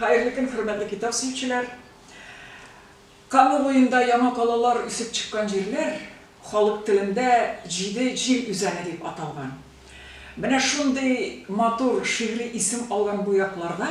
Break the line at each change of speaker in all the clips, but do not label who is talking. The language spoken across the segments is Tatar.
Хәерле көн, хөрмәтле китап сөючеләр! Кама буенда яңа калалар үсеп чыккан җирләр халык телендә Җиде җил үзәне дип аталган. Менә шундый матур шигъри исем алган бу якларда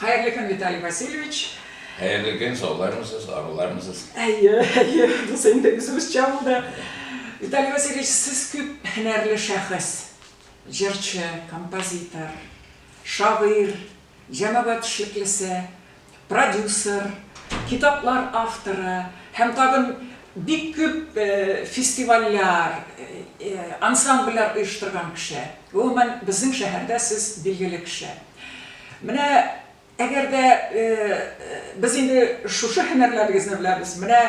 Хәерле көн, Виталий Васильевич! Хәерле көн,
саулармысыз, арулармысыз? Әйе, әйе, без
инде үзебезчә булды. Виталий Васильевич, сез күп һөнәрле шәхес. Җырчы, композитор, шагыйрь, җәмәгать эшлеклесе, продюсер, китаплар авторы һәм тагын бик күп фестивальләр, ансамбльләр оештырган кеше. Гомумән, безнең шәһәрдә сез билгеле кеше. Менә әгәр дә без инде шушы һөнәрләрегезне беләбез, менә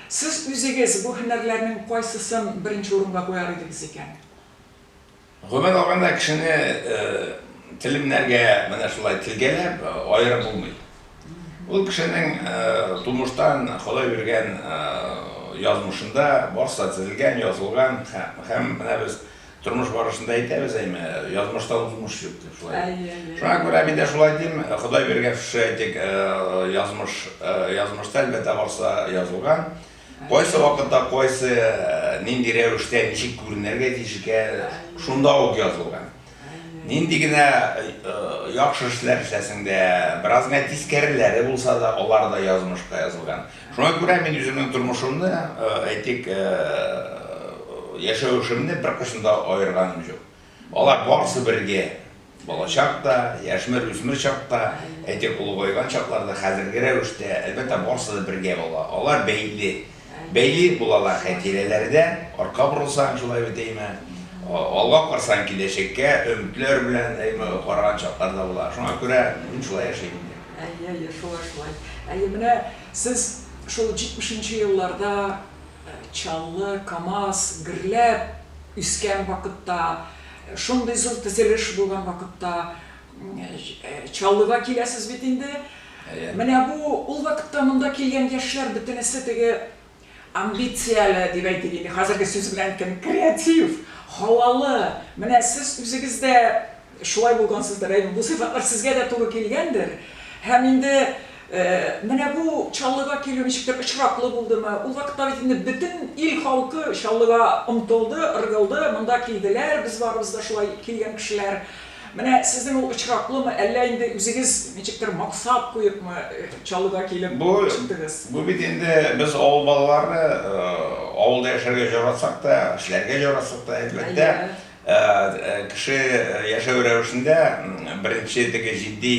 сез үзегез бу һөнәрләрнең кайсысын беренче урынга куяр идегез икән?
Гомумән алганда, кешене телемнәргә менә шулай телгәләп аерып булмый. Ул кешенең тумыштан Ходай биргән язмышында барсы да төзелгән, язылган һәм менә без Тормыш барышында әйтәбез әйме, язмышта узмыш юк дип шулай. Әйе. Шуңа күрә мин дә шулай дим, Ходай биргән шушы әйтик, э, язмыш, э, язмышта әлбәттә барса язылган. Кайсы вакытта, кайсы э, нинди рәвештә, ничек күренергә тиеш икән, шунда ук язылган. Нинди генә э, яхшы эшләр эшләсең дә, бераз генә тискәреләре булса да, алар да язмышка язылган. Шуңа күрә мин үземнең тормышымны, әйтик, яшәвешемне беркайчан да аерганым җук. Алар барысы бергә, балачак та, яшьмер, үсмер чак та, әйтик, олыгайган чаклар да, хәзерге рәвештә, әлбәттә, барысы да бергә була. Алар бәйле. Бәйле булалар хәтирәләрдә. Артка борылсаң, шулай бит, әйме? Алга карасаң, киләчәккә өметләр белән, әйме, караган чаклар да була. Шуңа күрә мин шулай яшим инде. Әйе, әйе, шулай, шулай.
Әйе, менә сез шул җитмешенче елларда Чаллы, Камаз, гөрләп үскән вакытта, шундый зур төзелеш булган вакытта Чаллыга киләсез бит инде. Әйе. Менә бу ул вакытта монда килгән яшьләр бөтенесе теге Амбицияле, дип әйтик инде, хәзерге сүз белән әйткәндә, креатив, һавалы, менә сез үзегез дә шулай булгансыздыр, әйе, бу сыйфатлар сезгә дә туры килгәндер. Һәм инде менә бу Чаллыга килү ничектер очраклы булдымы? Ул вакытта бит инде бөтен ил халкы Чаллыга омтылды, ыргылды, монда килделәр, без барыбыз да шулай килгән кешеләр. Менә сезнең ул очраклымы, әллә инде үзегез ничектер максат куепмы Чаллыга килеп чыктыгыз? Бу бит инде
без авыл балалары, авылда яшәргә җаратсак та, эшләргә җаратсак та, әлбәттә, кеше яшәү рәвешендә беренче теге җитди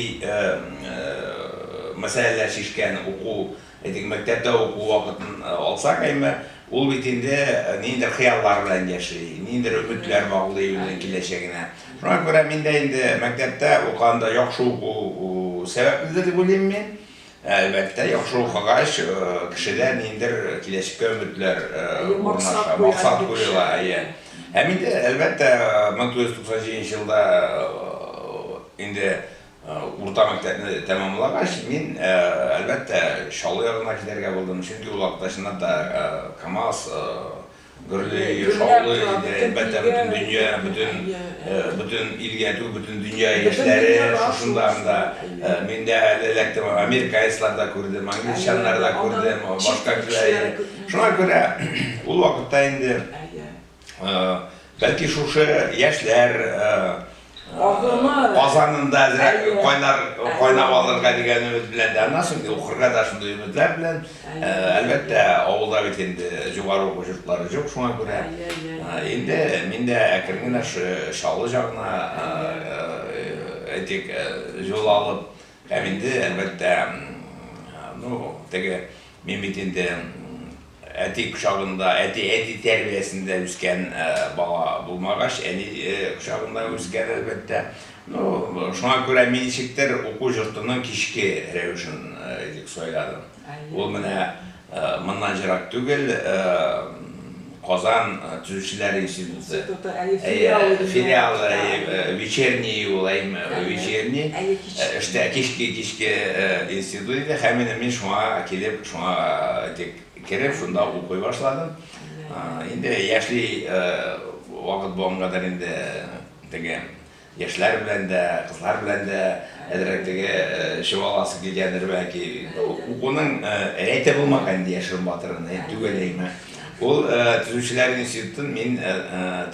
мәсьәләләр шишкән уку, Әйтик, мәктәптә уку вакытын алсак, әйме, ул бит инде ниндидер хыяллар белән яши, ниндидер өметләр баглый үзенең киләчәгенә. Шуңа күрә мин дә инде мәктәптә укыганда яхшы уку сәбәпледер дип уйлыйм мин. Әлбәттә, яхшы укыгач, кешедә ниндидер киләчәккә өметләр урнаша, максат куела, әйе. Һәм инде, әлбәттә, 1997 елда инде Урта мәктәпне тәмамлагач, мин, әлбәттә, Чаллы ягына китәргә булдым, чөнки ул вакытта, чынлап та, КАМАЗ гөрли, шаулый иде, әлбәттә, бөтен дөнья, бөтен, бөтен илгә түгел, бөтен дөнья яшьләре шушында анда. Мин дә әле эләктем, американецлар да күрдем, англичаннар да күрдем, башка кешеләр. Шуңа күрә ул вакытта инде. Бәлки шушы яшьләр Казанында әзрәк кайлар кайнап алырга дигән өмет белән дә, аннан соң укырга да шундый өметләр белән. Әлбәттә, авылда бит инде югары уку йортлары юк, шуңа күрә. Инде мин дә әкрен генә Чаллы ягына, әйтик, юл алып, һәм инде, әлбәттә, ну, теге Мин бит инде әти кочагында, әти-әни тәрбиясендә үскән бала булмагач, әни кочагында үскән, әлбәттә. Ну, шуңа күрә мин ничектер уку йортының кичке рәвешен сайладым. Ул менә моннан җырак түгел, Казан төзүчеләр институты. Институты, әйе, филиалы. Әйе, филиалы, әйе, вечерний ул, әйеме, вечерний. Әйе, кичке. Эштә, кичке, кичке институт иде. Һәм инде мин шуңа килеп, шуңа тик кереп, шунда укый башладым. Инде яшьли вакыт булгангадыр инде теге Яшьләр белән дә, кызлар белән дә әзрәк теге чуаласы килгәндер, бәлки. Укуның рәте булмаган инде яшерен батырын әй түгел әйме. Ул төзүчеләр институтын мин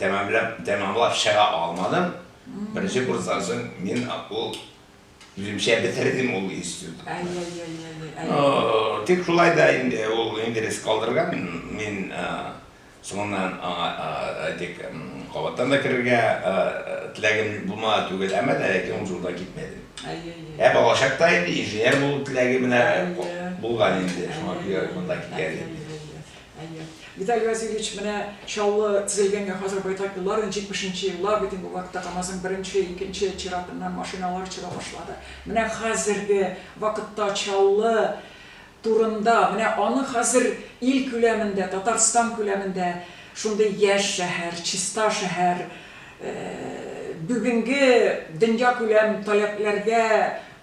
тәмамлап тәмамлап чыга алмадым. Беренче курстан соң мин ул үземчә бетердем ул институт. Ай-яй-яй-яй-яй. Тик шулай да инде ул инглиз калдырган, мин Соңыннан аңа, әйтик, кабаттан да керергә теләгем булмады түгел, әмма дә ләкин ул җулдан китмәдем. Ә балачакта инде инженер булу теләге менә булган инде, шуңа күрә монда килгән идем.
Виталий Васильевич, менә Чаллы төзелгәнгә хәзер байтак еллар, 70 нче еллар бит инде, бу вакытта КАМАЗның беренче, икенче чиратыннан машиналар чыга башлады. Менә хәзерге вакытта Чаллы турында, менә аны хәзер ил күләмендә, Татарстан күләмендә шундый яшь шәһәр, чиста шәһәр, бүгенге дөньякүләм таләпләргә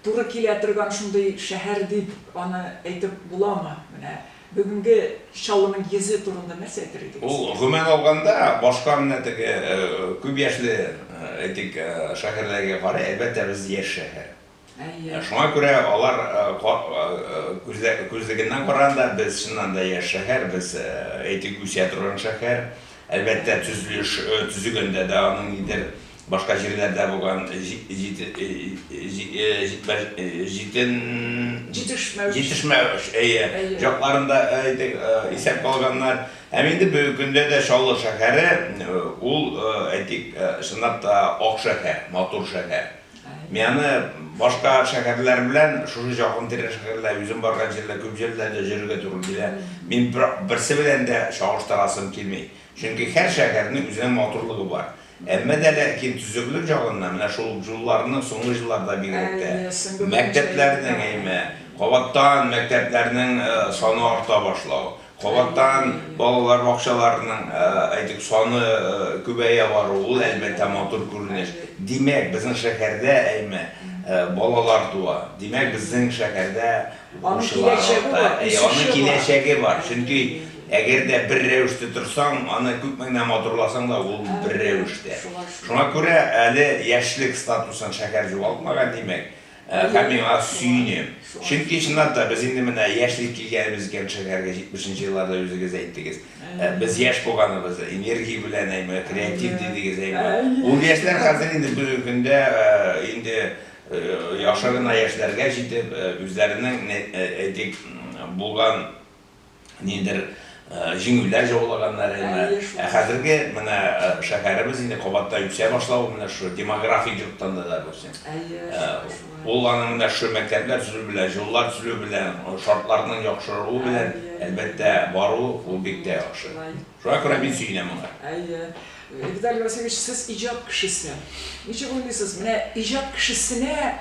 туры килә торган шундый шәһәр дип аны әйтеп буламы? Менә бүгенге Чаллының йөзе турында нәрсә әйтер идегез? Ул, гомумән алганда,
башка менә теге күп яшьле, әйтик, шәһәрләргә карый, әлбәттә, без яшь шәһәр. Әйе. Шуңа күрә алар күзлегеннән караганда, без чыннан да яшь шәһәр, без әйтик үсә торган шәһәр. Әлбәттә, төзелеш төзегәндә дә аның нидер башка җирләрдә булган җитешмәү җакларын да исәпкә алганнар. Һәм инде бүгенге көндә дә Чаллы шәһәре ул, әйтик, чынлап та ак шәһәр, матур шәһәр. Мианы башка шәһәрләр белән шушы җакын тирә шәһәрләр, үзем барган җирләр, күп җирләрдә җөрергә туры килә. Мин берсе белән дә чагыштырасым килми. Чөнки һәр шәһәрнең үзенең матурлыгы бар. Әмма дә ләкин төзеклек җагыннан, менә шул җулларның соңгы җылларда бигрәк тә, мәктәпләрнең әйме, кабаттан мәктәпләрнең саны арта башлау, Кабаттан балалар бакчаларының, әйтик, саны күбәя баруы, ул, әлбәттә, матур күренеш. Димәк, безнең шәһәрдә, әйме, балалар туа. Димәк, безнең шәһәрдә укучылар арта. Әйе, аның киләчәге бар. Чөнки, әгәр дә бер рәвештә торсаң, аны күпме генә матурласаң да, ул бер рәвештә. Шуңа күрә әле яшьлек статусын шәһәр югалтмаган, димәк. Һәм миңа сөенү. Чөнки, чынлап та, без инде менә яшьли килгәнебез икән шәһәргә, җитмешенче елларда үзегез әйттегез. Без яшь булганыбыз, энергия белән әйме, креатив дидегез әйме. Ул яшьләр хәзер инде бүгенге көндә инде яхшы гына яшьләргә җитеп, үзләренең, әйтик, булган, ниндидер җиңүләр жаулаганнарына, ә хәзерге менә шәһәребез инде кабаттай үсә башлавы менә шушы демографик җоктан да, допустим. Ул аның менә шушы мәктәпләр төзелү белән, җуллар төзелү белән, шартларның яхшыруы белән, әлбәттә, баруы ул бик тә яхшы. Шуңа күрә мин сөенәм моңа. Әйе. Виталий
Васильевич, сез иҗат кешесе. Ничек уйлыйсыз, менә иҗат кешесенә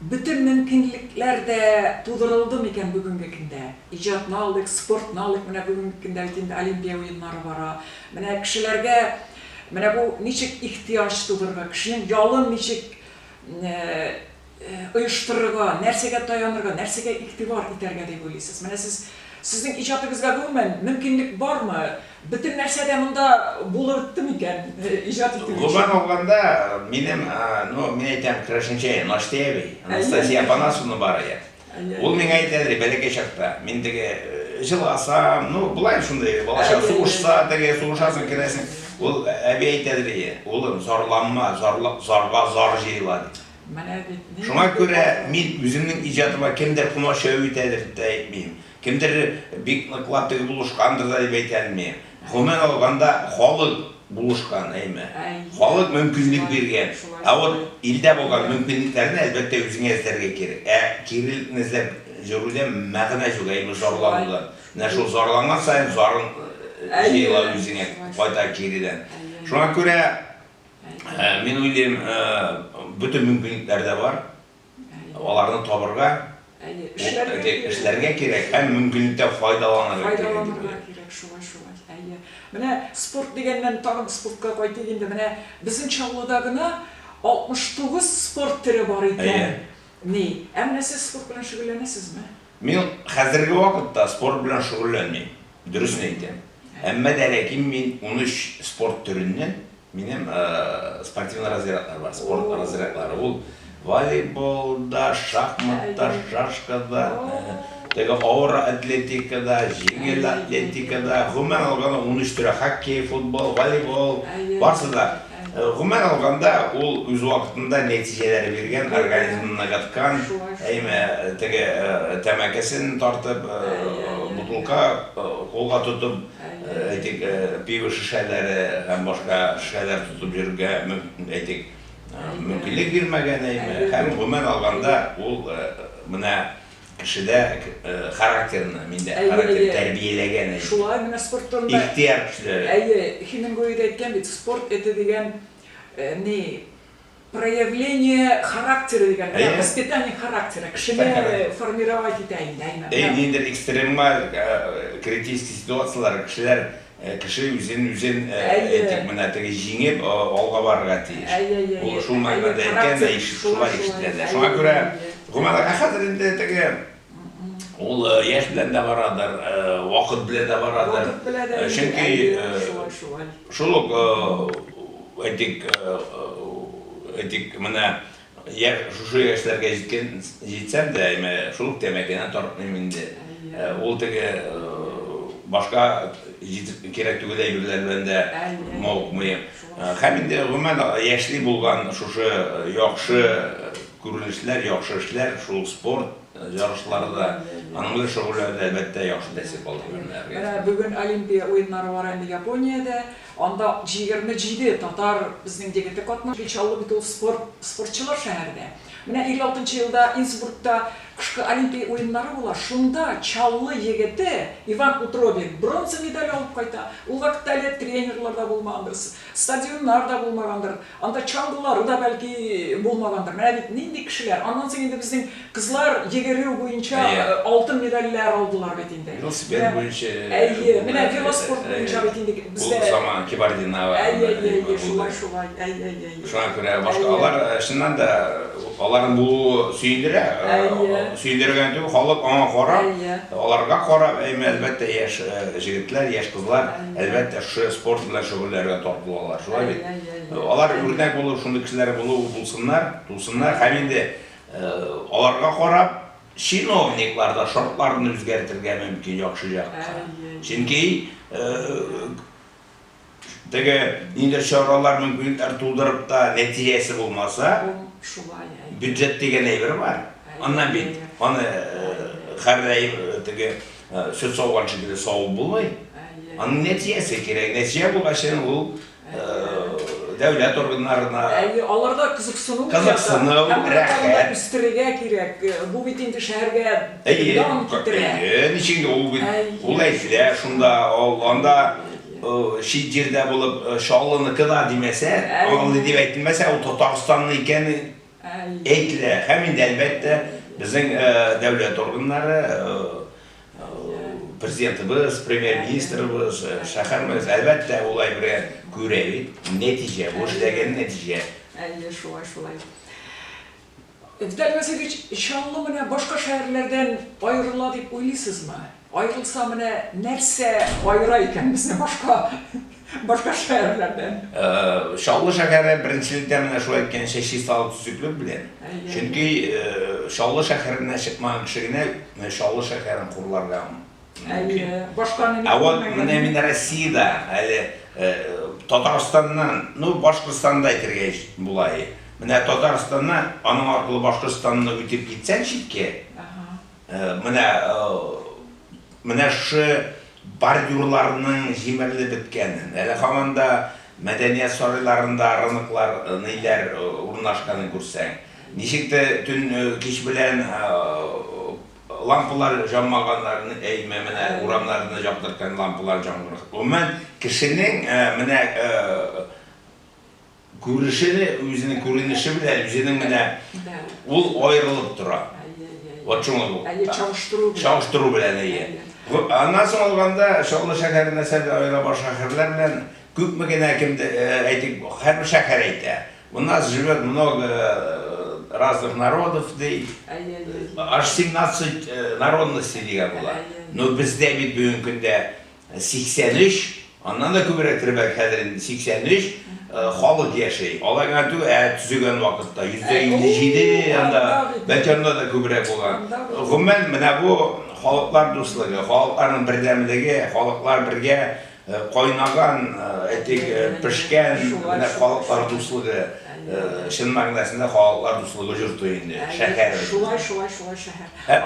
Бөтен мөмкинлекләр дә тудырылды микән бүгенге көндә? Иҗатны алдык, спортны алдык, менә бүгенге көндә бит инде Олимпия уеннары бара. Менә кешеләргә менә бу ничек ихтыяҗ тудырырга, кешенең ялын ничек оештырырга, нәрсәгә таянырга, нәрсәгә игътибар итәргә дип уйлыйсыз? Менә сез, сезнең иҗатыгызга гомумән мөмкинлек бармы? Бөтен нәрсә дә монда булырдты микән, иҗат итү өчен? Гомумән алганда,
минем, ну, мин әйтәм, керәшенчә Наштеви, Анастасия Апанасовна бар иде. Ул миңа әйтәдер, бәләкәй чакта, мин теге җыласам, ну, болай шундый, балачак, сугышса, теге, сугышасың, керәсең. Ул әби әйтәдер иде, улым, зарланма, зарга зар җыела, дип. Менә бит. Шуңа күрә мин үземнең иҗатыма кемдер комачау итәдер дип тә әйтмим. Кемдер бик ныклап теге булышкандыр да дип әйтәм мин. Гомумән алганда, халык булышкан, әйме. Халык мөмкинлек биргән. Ә вот илдә булган мөмкинлекләрне, әлбәттә, үзеңә эзләргә кирәк. Ә кирелкне эзләп йөрүдән мәгънә юк, әйме, зарланудан. Менә шул зарланган саен зарың җыела үзеңә кайта кирелән. Шуңа күрә, мин уйлыйм, бөтен мөмкинлекләр дә бар. аларны табырга, Әйе, бу эшләргә әти кирәк. эшләргә кирәк һәм Шулай. мөмкинлектән файдаланырга кирәк дип Файдаланырга уйлыйм. кирәк,
шулай, шулай. Әйе. Менә спорт дигәннән, тагын спортка кайтыйк инде. Менә безнең Чаллыда гына 69 спорт төре бар икән. Әйе. Ни. Ә менә сез спорт белән шөгыльләнәсезме? Мин
хәзерге вакытта спорт белән шөгыльләнмим, дөресен әйтәм. Әйе. Әмма дә ләкин мин унөч спорт төреннән Минем спортивный разрядлар бар, спорт разрядлары. Ул волейболда, шахматта, шашкада, теге авыр атлетикада, җиңел атлетикада, гомумән алганда 13 төрә хоккей, футбол, волейбол, барсы да. Гомумән алганда ул үз вакытында нәтиҗәләр биргән, организмны ныгыткан, әйме, теге тәмәкесен тартып, бутылка кулга тотып, әйтик, пиво шешәләре һәм башка шешәләр тотып йөрергә, әйтик, мөмкинлек бирмәгәнеме, һәм гомумән алганда, ул менә кешедә характерны, миндә характерны тәрбияләгән, әйе. Шулай менә спорттан
да. Ихтыяр көчләре.
Әйе, Хемингуэй да әйткән бит,
спорт это дигән ни. Проявление характера дигән, Әйе. воспитание характера, кешене Характер. формировать итә инде, әйме. Әйе, Менә. ниндидер экстремаль,
э, критический ситуацияләр, кешеләр, э, кеше үзен, үзен, э, Әйе. әйтик, менә теге җиңеп, э, алга барырга тиеш. Әйе, әйе, Ул әйе. шул мәгънәдә Әйе, әйткән дә, характер, ишет шулай шулай, ишетелә дә. әйе, Шуңа күрә, әйе. гомумән, ә хәзер инде теге, Ул яшь белән дә барадыр, вакыт белән дә барадыр. Вакыт белән дә. Чөнки шулай, шулай. Шул ук, әйтик, әйтик, менә яшь, шушы яшьләргә җиткән, җитсәм дә, әйме, шул ук тәмәкене тартмыйм инде. Ул теге башка җитеп кирәк түгел әйберләр белән дә мавыкмыйм. Һәм инде гомумән яшьли булган шушы яхшы Күренешләр, яхшы эшләр, шул ук спорт ярышлары да, аның белән шөгыльләнү дә, әлбәттә, яхшы тәэсир калдырган менә организмда. Менә бүген Олимпия
уеннары бара инде Япониядә. Анда 27 татар безнең егете катнашты. Бик чаллы бит ул спорт, спортчылар шәһәрдә. Менә 56 нчы елда Инсбургта кышкы Олимпия уеннары була, шунда Чаллы егете Иван Утробин бронза медаль алып кайта. Ул вакытта әле тренерлар да булмагандыр, стадионнар да булмагандыр. Анда чаңгылары да, бәлки, булмагандыр. Менә бит нинди кешеләр. Аннан соң инде безнең кызлар йөгерү буенча алтын медальләр алдылар бит инде. Велосипед буенча.
Әйе, менә
велоспорт буенча бит инде бездә. Ул заман Кибардинова.
Әйе, әйе, әйе, шулай,
шулай. Әйе, әйе,
әйе. Шуңа күрә башка алар, чыннан да, аларның булуы сөендерә. Әйе. Сөендерә генә түгел, халык аңа карап, аларга карап, әлбәттә, яшь җегетләр, яшь кызлар. Әлбәттә, шушы спорт белән шөгыльләргә тап булалар, шулай бит? Әйе, әйе, әйе. Алар үрнәк булып, шундый кешеләр булып булсыннар, тусыннар һәм инде аларга карап, чиновниклар да шартларны үзгәртергә мөмкин яхшы якка. Әйе. Чөнки теге нинди чаралар мөмкинлекләр тудырып та нәтиҗәсе булмаса, шулай, әйе. Бюджет дигән әйбер бар. Аннан бит аны хәрәй теге Сөт сауган шикелле савып булмый. Аның нәтиҗәсе кирәк. Нәтиҗә булгач, ул дәүләт органнарына. Әйе, аларда
кызыксыну кызыксыну, рәхәт
үстерергә кирәк.
Бу бит инде шәһәргә дан китерә. Әйе, ничек ул бит
ул әйфлә шунда, анда чит җирдә булып чаллыныкы да димәсә, аңлый дип әйтелмәсә, ул Татарстанны икәнен Әйтелә һәм инде, әлбәттә, безнең дәүләт органнары, Президентыбыз, Премьер-министрыбыз, шәһәр мэриясе, әлбәттә, ул әйбергә күрә бит, нәтиҗә, бу эшләгән нәтиҗә. Әйе, шулай, шулай.
Виталий Васильевич, Чаллы менә башка шәһәрләрдән аерыла дип уйлыйсызмы? Ай булса менә нәрсә аера икән безне башка башка шәһәрләрдән? Чаллы шәһәре
беренчелектә менә шул әйткәнчә чисталык төзеклек белән. Чөнки Чаллы шәһәреннән чыкмаган кеше генә менә Чаллы шәһәрен хурларга мөмкин. Әйе, башканы мин күрмәгән. Ә вот менә мин Россиядә әле Татарстаннан, ну Башкортстан да әйтергә була. Менә Татарстаннан, аның аркылы Башкортстанны үтеп китсәң читкә. Менә, менә шушы бордюрларның җимерелеп беткәнен, әле һаман да мәдәният сарайларында рыныклар ниләр урнашканын күрсәң, ничек тә төн, кич белән лампалар җанмаганнарын, әйме, менә урамнарны җактырткан лампалар җангырга. Гомумән, кешенең менә, Күрешене, үзенең күренеше белән, үзенең менә ул аерылып тора. Вот шуңа бу. Әле чагыштыру белән. Чагыштыру
белән, әйе.
Аннан соң алганда, Чаллы шәһәре мәсәлән аера башка шәһәрләр белән. Күпме генә кемдә, әйтик, һәрбер шәһәр әйтә. У нас живет много разных народов, ди. Аж семнадцать народностей дигән була. Но бездә бит бүгенге көндә 83, аннан да күбрәк төбәк хәзер инде 83 халык яши. Алай гына түгел, ә төзегән вакытта 157 анда, бәлки анда да күбрәк булган. Гомумән, менә бу халыклар дуслыгы, халыкларның бердәмлеге, халыклар бергә кайнаган, әйтик, пешкән, менә халыклар дуслыгы, чын мәгънәсендә халыклар дуслыгы җорты инде шәһәребез. Шулай, шулай, шулай
шәһәр.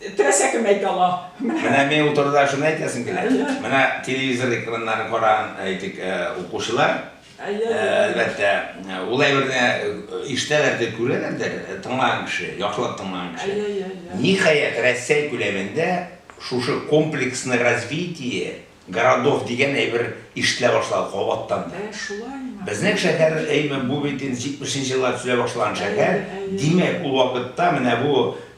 Теләсә кем әйтә ала. Менә. Менә мин ул
турыда шуны әйтәсем килә. Әйе. Менә телевизор экраннарын караган, әйтик, укучылар, Әйе, әйе, әйе. әлбәттә, ул әйберне ишетәләрдер, күрәләрдер, тыңлаган кеше, яхшылап тыңлаган кеше. Әйе, әйе, әйе. Ниһаять, Рәсәй күләмендә шушы комплексное развитие городов дигән әйбер ишетелә башлады кабаттан да. Ә, шулаймы? Безнең шәһәр, әйме, бу бит инде 70 нче елларда төзелә башлаган шәһәр. Әйе, әйе. Димәк, ул вакытта менә бу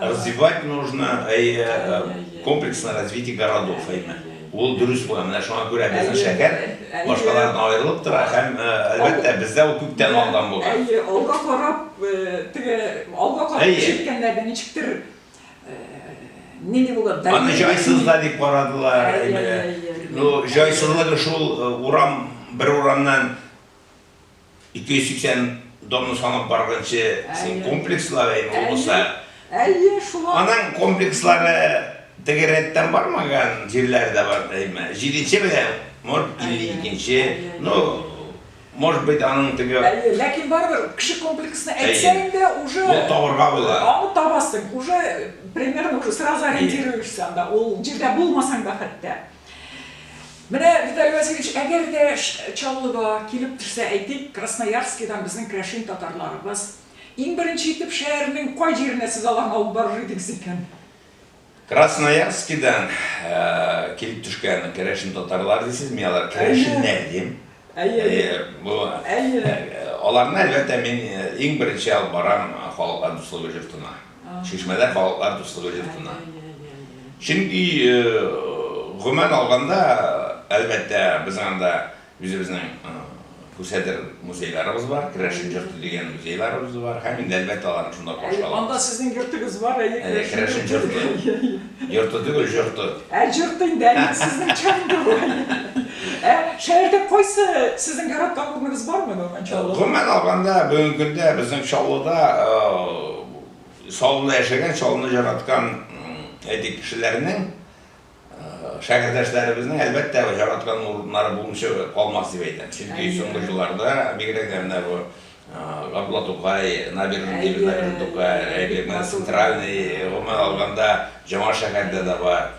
Развивать нужно э, комплексно развитие городов, әйме. Ул дөрес була. Менә шуңа күрә безнең шәһәр башкалардан аерылып тора һәм э, әлбәттә бездә ул күптән алдан булган. Әйе, алга карап, э,
теге алга карап җиткәннәрдә ничектер э, нинди була? Аны җайсыз да дип
карадылар. Ну, җайсызлыгы шул урам, бер урамнан 280 домны санап баргынчы син комплекслар әйме ул булса. Әйе, шулай. Аның комплекслары теге рәттән бармаган җирләре дә бар әйме. Җиденче белән, может, 52-нче, ну, может быть, аның теге... Әйе, ләкин барыбер
кеше комплексны әйтсә инде, уже... Ул табырга була.
Аны табасың,
уже примерно уже сразу ориентируешься анда, ул җирдә булмасаң да хәтта. Менә, Виталий Васильевич, әгәр дә Чаллыга килеп төшсә, әйтик, Красноярскидан безнең керәшен татарларыбыз, иң беренче итеп шәһәрнең кай җиренә сез аларны алып барыр идегез икән? Красноярскидан
килеп төшкән керәшен татарлар дисез, мин алар керәшеннәр дим. Әйе. Әйе, бу. Әйе. Аларны, әлбәттә, мин иң беренче алып барам халыкка дуслыгы йортына. Чишмәләр балыклар дуслыгы йортына. Чөнки гомумән алганда, әлбәттә, безнең анда үзебезнең күсәдер музейларыбыз бар, керәшен йорты дигән музейларыбыз бар һәм инде әлбәттә аларны шунда каршылап алабыз. Анда сезнең йортыгыз
бар, әйе, керәшен йорты.
Йорты түгел, җорты. Ә, җорты инде, әйе,
сезнең чынында бу, әйе. Ә, шәһәрдә кайсы сезнең яраткан урыныгыз бармы, гомумән, Чаллыда? Гомумән алганда, бүгенге
көндә безнең Чаллыда, Чаллыда яшәгән, Чаллыны җараткан, әйтик, кешеләрнең, шәһәрдәшләребезнең, әлбәттә, җараткан урыннары булмыйча калмас дип әйтәм. Чөнки соңгы елларда, бигрәк тә менә бу Габдулла Тукай, Набережный, Дебют Набережный Тукай, әйе, менә Центральный, гомумән алганда, Җаңа шәһәрдә дә бар,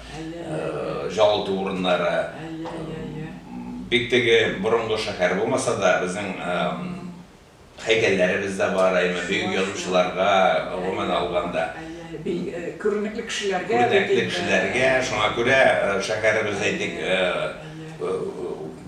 җылыту урыннары. Бик теге борынгы шәһәр булмаса да, безнең һәйкәлләребез дә бар, әйеме, бөек язучыларга, гомумән алганда.
Күренекле кешеләргә. Күренекле кешеләргә, шуңа күрә
шәһәребез, әйтик,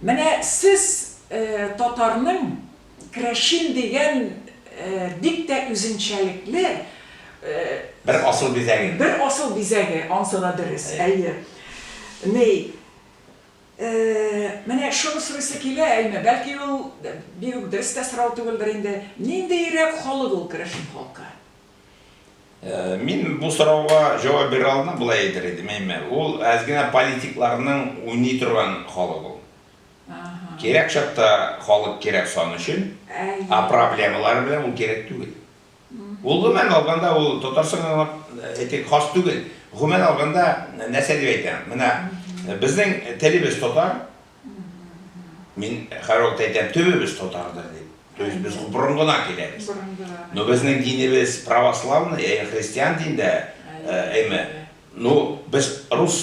Менә
сез татарның крәшим дигән бик тә үзенчәлекле,
Бер асыл бизәге. Бер асыл бизәге,
ансы да дөрес, әйе. Ни, менә шуны сорыйсы килә, әйме, бәлки ул бигүк дөрес тә сорау түгелдер инде, ниндиерәк халык ул крәшим халкы? Мин
бу сорауга җавап бирә алмыйм, болай әйтер идем, әйме, ул әз генә политикларның уйный торган халык ул. Кирәк чакта халык кирәк сан өчен, ә проблемалары белән ул кирәк түгел. Ул гомумән алганда ул Татарстанга әйтик хас түгел. Гомумән алганда нәрсә дип әйтәм, менә безнең телебез татар, Мин хәрвакыт әйтәм, төбебез татардыр дип. То есть без борынгыдан киләбез. Но безнең динебез православный, ягъни христиан динендә әйме. Ну, без рус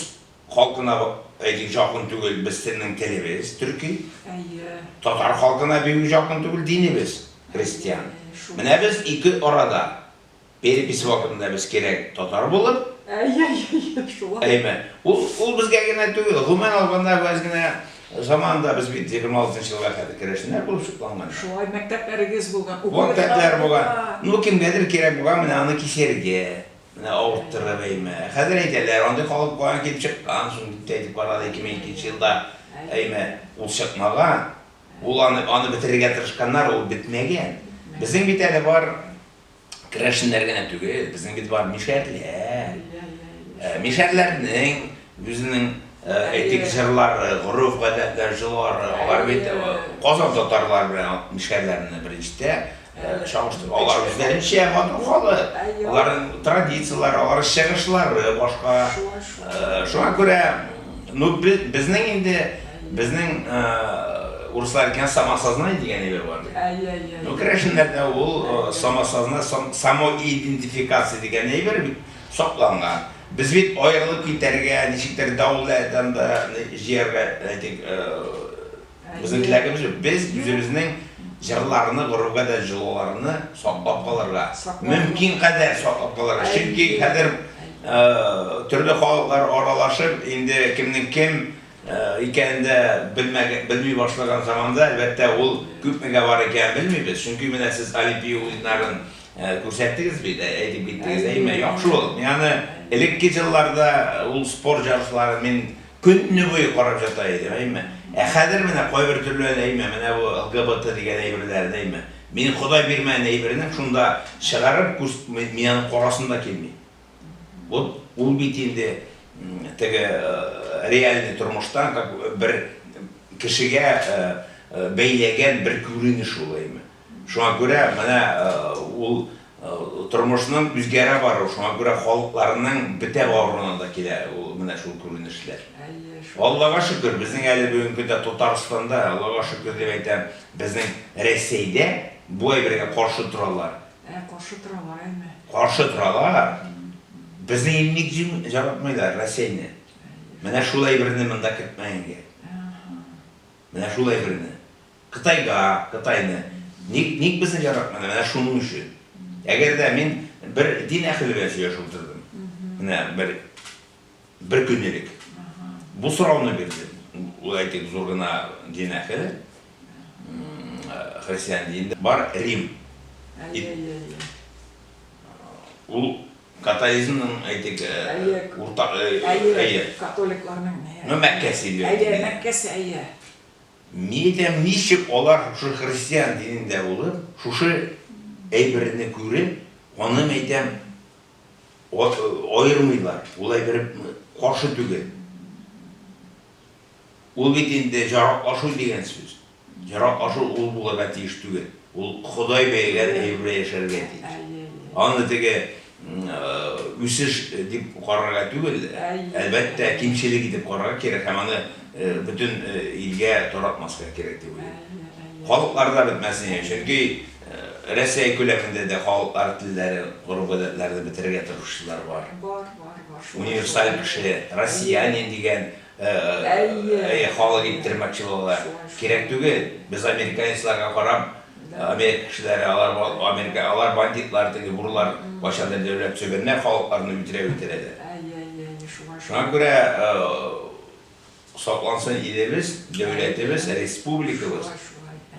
халкына әйтик якын түгел, без телнең телебез төрки. Татар халкына бик якын түгел динебез христиан. Менә без ике арада. Перепись вакытында без кирәк татар булып. Әй-әй-әй, шулай. Әйме. Ул, ул безгә генә түгел, гомумән алганда без генә заманында без бит егерме алтынчы елга кадәр керәшеннәр булып сокланган. Шулай, мәктәпләрегез
булган, уку мәктәпләре булган. Мәктәпләр булган.
Ну, кемгәдер кирәк булган менә аны кисәргә, менә авырттырып, әйме. Хәзер әйтәләр, андый халык каян килеп чыккан соң, дип тә әйтеп карады, ике мең икенче елда, әйме. Ул чыкмаган. Ул аны, аны бетерергә тырышканнар, ул бетмәгән. Безнең бит әле бар, керәшеннәр генә түгел, безнең бит бар мишәрләр. Э, мишәрләрнең үзенең э, әйтик җырлары, горыф гадәтләр, җылары, алар бит э, Казан татарлары белән мишәрләрне беренчедә чагыштыр. Алар үзләренчә матур халык. Аларның традицияләре, алар чыгышлары башка. Шуңа күрә Ну, безнең инде, безнең урыслар әйткән самосознание дигән әйбер бар бит. Ну, керәшеннәрдә ул самосознание, самоидентификация дигән әйбер бит сакланган. Без бит аерылып китәргә, ничектер дәүләттән дә җияргә, әйтик, Безнең теләгебез без үзебезнең җырларны, гореф-гадәт җылыларны саклап калырга. Мөмкин кадәр саклап калырга. Чөнки хәзер төрле халыклар аралашып, инде кемнең кем икәнен дә белми башлаган заманда, әлбәттә, ул күпмегә бар икәнен белмибез. Чөнки менә сез Олимпия уеннарын күрсәттегез бит, әйтеп киттегез, әйме? Яхшы ул. Мин аны элекке җылларда ул спорт җырчылары мин Көнне буе карап ята идем, әйме. Ә хәзер менә кайбер төрләр, әйме, менә бу LGBT дигән әйберләрен, әйме. Мин Ходай бирмәгән әйбернең шунда чыгарып күрс, мин аны карасым да килми. Вот ул бит инде теге реальный тормыштан как бер кешегә бәйләгән бер күренеш ул, әйме. Шуңа күрә менә ул тормышның үзгәрә баруы, шуңа күрә халыкларның бетә баруына да килә ул менә шул күренешләр. Аллага шөкер, безнең әле бүгенге көндә Татарстанда, Аллага шөкер дип әйтәм, безнең Рәсәйдә бу әйбергә каршы торалар. Ә,
каршы торалар әйме. Каршы
торалар. Безнең инде ник җим яратмыйлар Рәсәйне. Менә шул әйберне монда кертмәгәнгә. Менә шул әйберне. Кытайга, Кытайны. Ник, ник безне яратмыйлар? Менә шуның өчен. Әгәр дә мин бер дин әхеле белән сөйләшеп утырдым. Менә бер, бер көн элек. Бу сорауны бирдем. Ул әйтик зур гына дин әхеле. Христиан динендә бар Рим. Әйе, әйе, әйе. Ул. Католизмның, әйтик, уртак, әйе.
Католикларның, ну, Мәккәсе бирде.
Әйе, Мәккәсе,
әйе. Мин әйтәм,
ничек алар шушы христиан динендә булып, шушы әйберне күреп, аны, әйтәм, аермыйлар, ул әйбер каршы түгел. Ул бит инде җараклашу дигән сүз. Яраклашу ул булырга тиеш түгел. Ул Ходай бәягән әйбергә яшәргә тиеш. Аны теге үсеш дип карарга түгел, әлбәттә, кимчелек итеп карарга кирәк һәм аны бөтен илгә таратмаска кирәк дип уйлыйм. Халыкларда бетмәсен яшь, чөнки Рәсәй күләмендә дә халыклар телләре, гореф-гадәтләрне бетерергә тырышучылар бар. Универсаль кеше, россиянин дигән Әйе. Әйе, халык иттермәк чи булалар. Кирәк түгел. Без американецларга карап, Америка кешеләре, алар Америка, алар бандитлар, теге бурлар кайчандыр дәүләт сөгәннәр, халыкларны үтерә үтерәләр. Әйе, әйе, әйе, шуңа шул. Шуңа күрә саклансын илебез, дәүләтебез, республикабыз.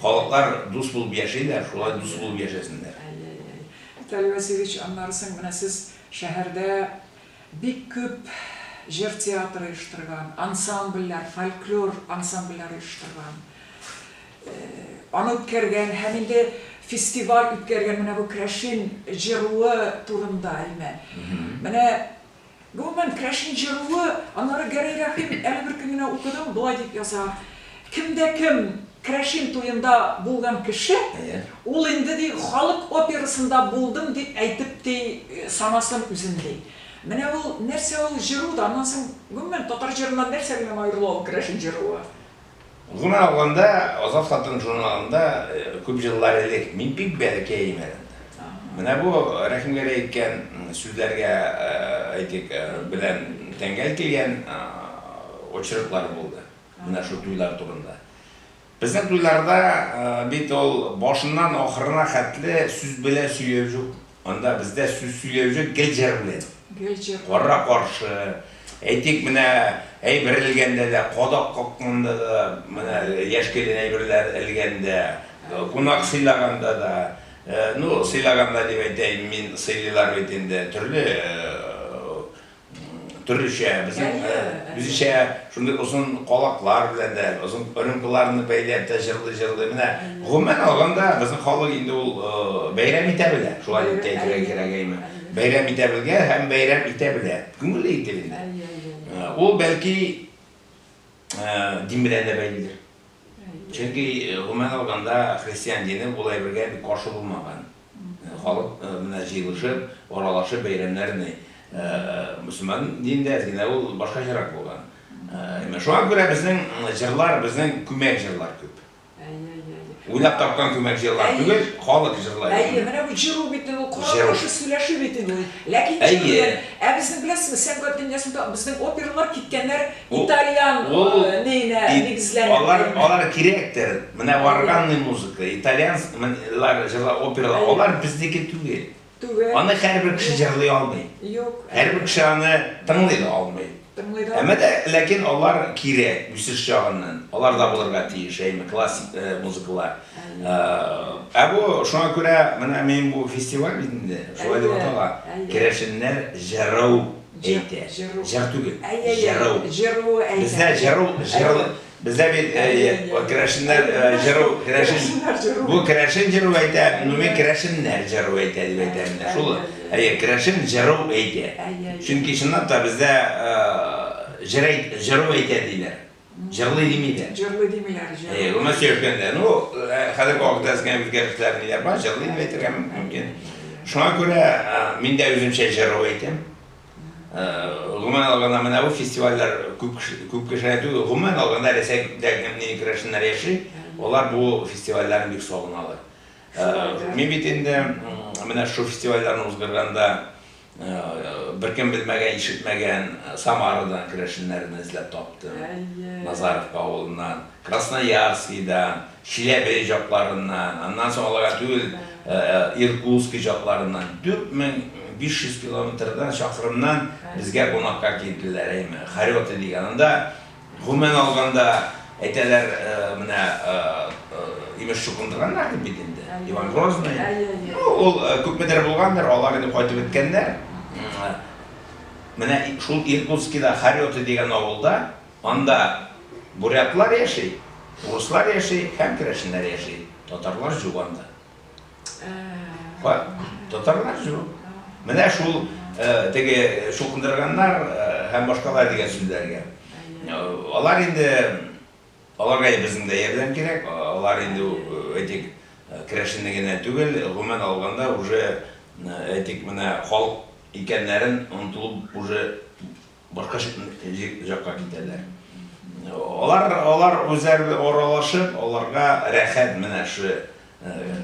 Халыклар дус булып яшиләр, шулай дус булып яшәсеннәр. Әйе, әйе. Виталий
Васильевич, аннары соң менә сез шәһәрдә Бик күп җыр театры оештырган, ансамбльләр, фольклор ансамбльләре оештырган. Аны үткәргән һәм инде фестиваль үткәргән менә бу Крәшин җыруы турында, әйме. Менә, гомумән, Крәшин җыруы, аннары Гәрәй Рәхим әле бер көн генә укыдым, болай дип яза, Кем дә кем Крәшин туенда булган кеше, ул инде, ди, халык операсында булдым дип әйтеп ти санасын үзен, ди. Менә ул, нәрсә ул җыру да, аннан соң, гомумән, татар җырыннан нәрсә белән аерыла ул Крәшин җыруы? Гомумән
алганда, Азат хатын журналында күп еллар элек, мин бик бәләкәй имәнемдә, менә бу Рәхимгәрәй әйткән сүзләргә, әйтик, белән тәңгәл килгән очерклар булды. Менә шул туйлар турында. Безнең туйларда бит ул башыннан ахырына хәтле сүз белән сөйләү җук. Анда бездә сүз сөйләү җук, гел җыр белән. Гел җыр. Кара-каршы, әйтик, менә әйбер элгәндә дә, кадак какканда да, менә яшь килен әйберләр элгәндә, кунак сыйлаганда да, ну, сыйлаганда дип әйтәем мин, сыйлыйлар бит инде, төрле, төрлечә, безнең үзечә шундый озын калаклар белән дә, озын рюмкаларны бәйләп тә җырлый-җырлый. Менә гомумән алганда, безнең халык инде ул бәйрәм итә белә. Шулай дип тә әйтергә кирәк әйме. Бәйрәм итә белгән һәм бәйрәм итә белә. Күңелле итеп инде. Ул бәлки дин белән дә бәйледер. Чөнки, гомумән алганда, христиан дине бу әйбергә бик каршы булмаган. Халык менә җыелышып, аралашып бәйрәмнәрен ый. Мөселман динендә әз генә ул башкачарак булган. Менә шуңа күрә безнең җырлар, безнең күмәк җырлар күп. Уйлап тапкан күмәк җырлар түгел, халык җырлар. Әйе, менә бу җыру бит
инде ул, Корал кушы сөйләше бит инде ул. Ләкин җыр белән. Ә безнең, беләсезме, сәнгать дөньясында безнең опералар киткәннәр. Бу итальян ул нина нигезләре. Алар алар
кирәктер. Менә органный музыка, итальянлар җырла опера, алар безнеке түгел. Түгел. Аны һәрбер кеше җырлый алмый. Юк. Һәрбер кеше
аны
тыңлый да алмый. Тыңлый да. Әмма дә ләкин алар кирәк үсеш чагыннан. Алар да булырга тиеш, әйме классик музыкалар. Ә бу шуңа күрә менә мин бу фестиваль бит инде, шулай дип атала. Керәшеннәр җырау әйтә. Җыр түгел, җыру. Җыру әйтә. Бездә җыру, җыру. Бездә бит керәшеннәр җыру, керәшен. Бу керәшен җыру әйтә, гомуми керәшеннәр җыру әйтә дип әйтәм инде. Шул, әйе, керәшен җыру әйтә. Чөнки чынлап та бездә җыр әйт, җыру әйтә диләр. Җырлый дими дә. Җырлый димиләр,
җырлый. Әйе, гомер сөйгәндә. Ну,
хәзер вакытта генә үзгәрешләр ниләр бар, җырлый дип әйтергә мөмкин. Шуңа күрә мин дә үземчә җырлый итәм. Гомумән алганда менә бу фестивальләр күп күп кешеләр түгел, гомумән алганда Рәсәйдә генә мини керәшеннәр яши, алар бу фестивальләрне бик сагыналар. Мин бит инде менә шул фестивальләрне узгырганда Беркем белмәгән, ишетмәгән Самарадан керәшеннәрне эзләп таптым. Әйе. Назаровка авылыннан, Красноярскидан, Чиләбе җакларыннан, аннан соң алага түгел, Иркутски җакларыннан 4500 километрдан, чакрымнан безгә кунакка килделәр, әйме, Хорёты дигән. Анда Гомумән алганда, әйтәләр, менә имеш чукындырганнар дип бит инде, Иван Грозный. Ну, ул күпмедер булгандыр, алар инде кайтып беткәннәр. Менә шул Иркутскида Харёты дигән авылда, анда бурятлар яши, урыслар яши һәм керәшеннәр яши, татарлар җук анда. Бар, татарлар җу. Менә шул теге шукындырганнар һәм башкалар дигән сүзләргә. Алар инде аларга безнең дә ярдәм кирәк. Алар инде әйтик керәшенне генә түгел, гомумән алганда уже әйтик менә халык икәннәрен онытылып уже Бакыш җакка китәләр. Алар, алар үзәр аралашып, аларга рәхәт менә шу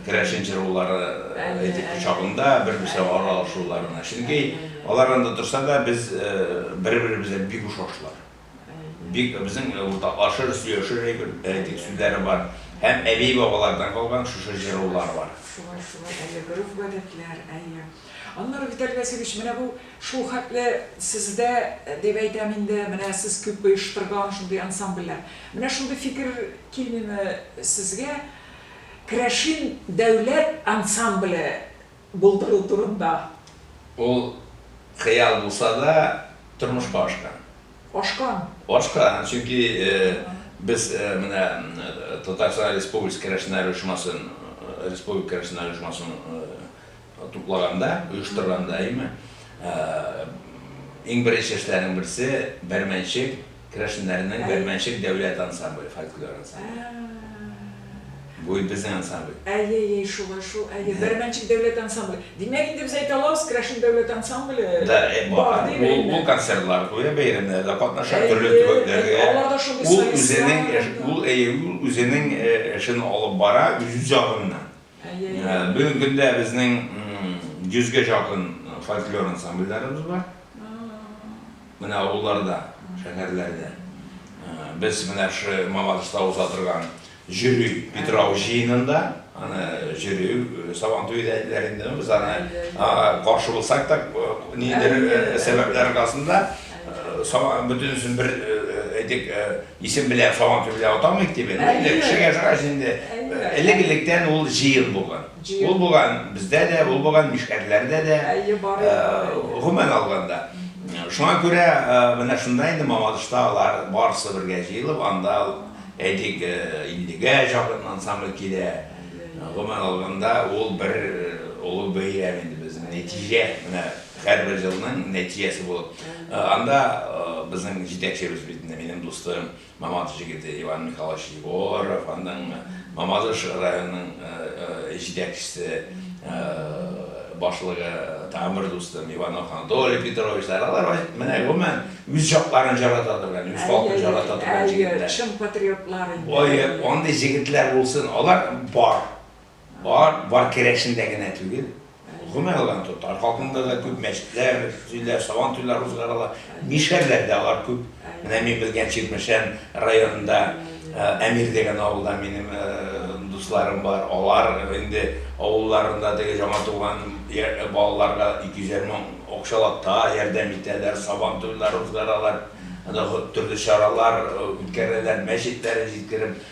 керәшен җырулары әйтик кочагында бер-берсе аралашуларына. Чөнки алар анда торса да, без бер-беребезгә бик ошашлар. Бик безнең уртаклашыр, сөяшер әйбер, әйтик сүзләре бар. Һәм әби-бабалардан калган шушы җырулар бар. Шулай,
шулай, әйе, гореф-гадәтләр, әйе. Аннары, Виталий Васильевич, менә бу Шул хәтле сездә, дип әйтәм инде, менә сез күп оештырган шундый ансамбльләр. Менә шундый фикер килмиме сезгә Керәшин дәүләт ансамбле булдыру турында? Ул
хыял булса да, тормышка ашкан. Ашкан?
Ашкан,
чөнки без менә Татарстан Республикасы керәшеннәр оешмасын, Республика керәшеннәр оешмасын, Туплаганда, оештырганда, әйеме, иң беренче эшләрнең берсе Бәрмәнчек керәшеннәренең Бәрмәнчек дәүләт ансамбле, фольклор ансамбле. Бу безнең ансамбль. Әйе, әйе, шулай шул,
әйе, Бәрмәнчек дәүләт ансамбле. Димәк, инде без әйтә алабыз, керәшен дәүләт ансамбле бар, дип әйтәм.
Ул концертлар куя, бәйрәмнәрдә катнаша, төрле төбәкләргә. Алар да шундый
солистлар.
Ул үзенең эшен алып бара, үз ягыннан. Бүгенге көндә безнең 100 гә якын фольклор ансамбльләребез бар. Менә авылларда, шәһәрләрдә. Без менә шушы Мамадышта уза торган җөрү Питрау җыенында, аны җөрү Сабан туе дә әйтәләр инде, без аны каршы булсак та, нидер сәбәпләр аркасында, бөтенесен бер әйтик, Исем белән сабан төбе дә атамыйк дип инде, әле кеше яшәгач инде, элек-электән ул җыен булган. Ул булган бездә дә, ул булган мишәрләрдә дә, гомумән алганда. Шуңа күрә менә шунда инде Мамадышта алар барысы бергә җыелып, анда, әйтик, 50-гә якын ансамбль килә. Гомумән алганда, ул бер олы бәйрәм инде безнең, нәтиҗә, менә Һәрбер елның нәтиҗәсе булып. Анда безнең җитәкчебез бит инде минем дустым Мамадыш җегете Иван Михайлович Егоров, аның Мамадыш районының җитәкчесе, башлыгы тагын бер дустым Иванов Анатолий Петровичлар. Алар менә гомумән үз җакларын җарата торган, үз халкын җарата торган җегетләр. Чын патриотлар
инде. Ой, андый
җегетләр булсын, алар бар. Бар, бар керәшендә генә түгел, гомумән алганда татар халкында да күп мәчетләр төзиләр, сабантуйлар узгарыла. Мишәрләр дә алар күп. Менә мин белгән Чирмешән районында Әмир дигән авылда минем дусларым бар. Алар инде авылларында теге яңа туган балаларга 250 мең акчалата ярдәм итәләр, сабантуйлар узгаралар, анда төрле чаралар үткәрәләр, мәчетләр җиткереп.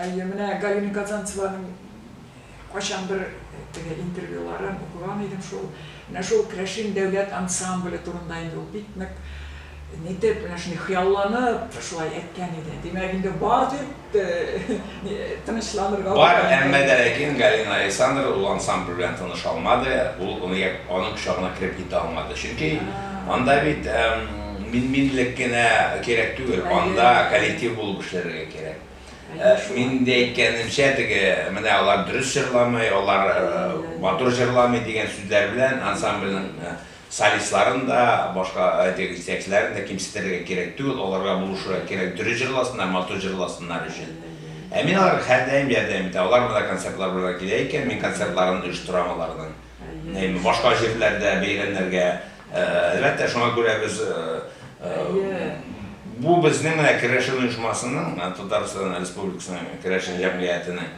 Әйе, менә Галина Казанцеваның кайчандыр теге интервьюларын укыган идем шул. Менә шул Крәшин дәүләт ансамбле турында инде ул бик нык нитеп, менә шундый хыялланып шулай әйткән иде. Димәк, инде бар дип тынычланырга була инде. Бар, әмма
дә ләкин Галина Александр ул ансамбль белән таныша алмады, ул аның кочагына кереп китә алмады. Чөнки анда бит мин-минлек кенә кирәк түгел, анда коллектив булып эшләргә кирәк. Мин инде әйткәнемчә, теге, менә алар дөрес җырламый, алар матур җырламый дигән сүзләр белән ансамбльнең солистларын да, башка теге җитәкчеләрен дә кимсетергә кирәк түгел, аларга булышырга кирәк, дөрес җырласыннар, матур җырласыннар өчен. Ә мин аларга һәрдаим ярдәм итәм. Алар монда концертлар белән килә икән, мин концертларын оештырам аларның. Башка җирләрдә бәйрәмнәргә, әлбәттә, шуңа күрә без бу безнең менә керәшен оешмасының, Татарстан Республикасының керәшен җәмгыятенең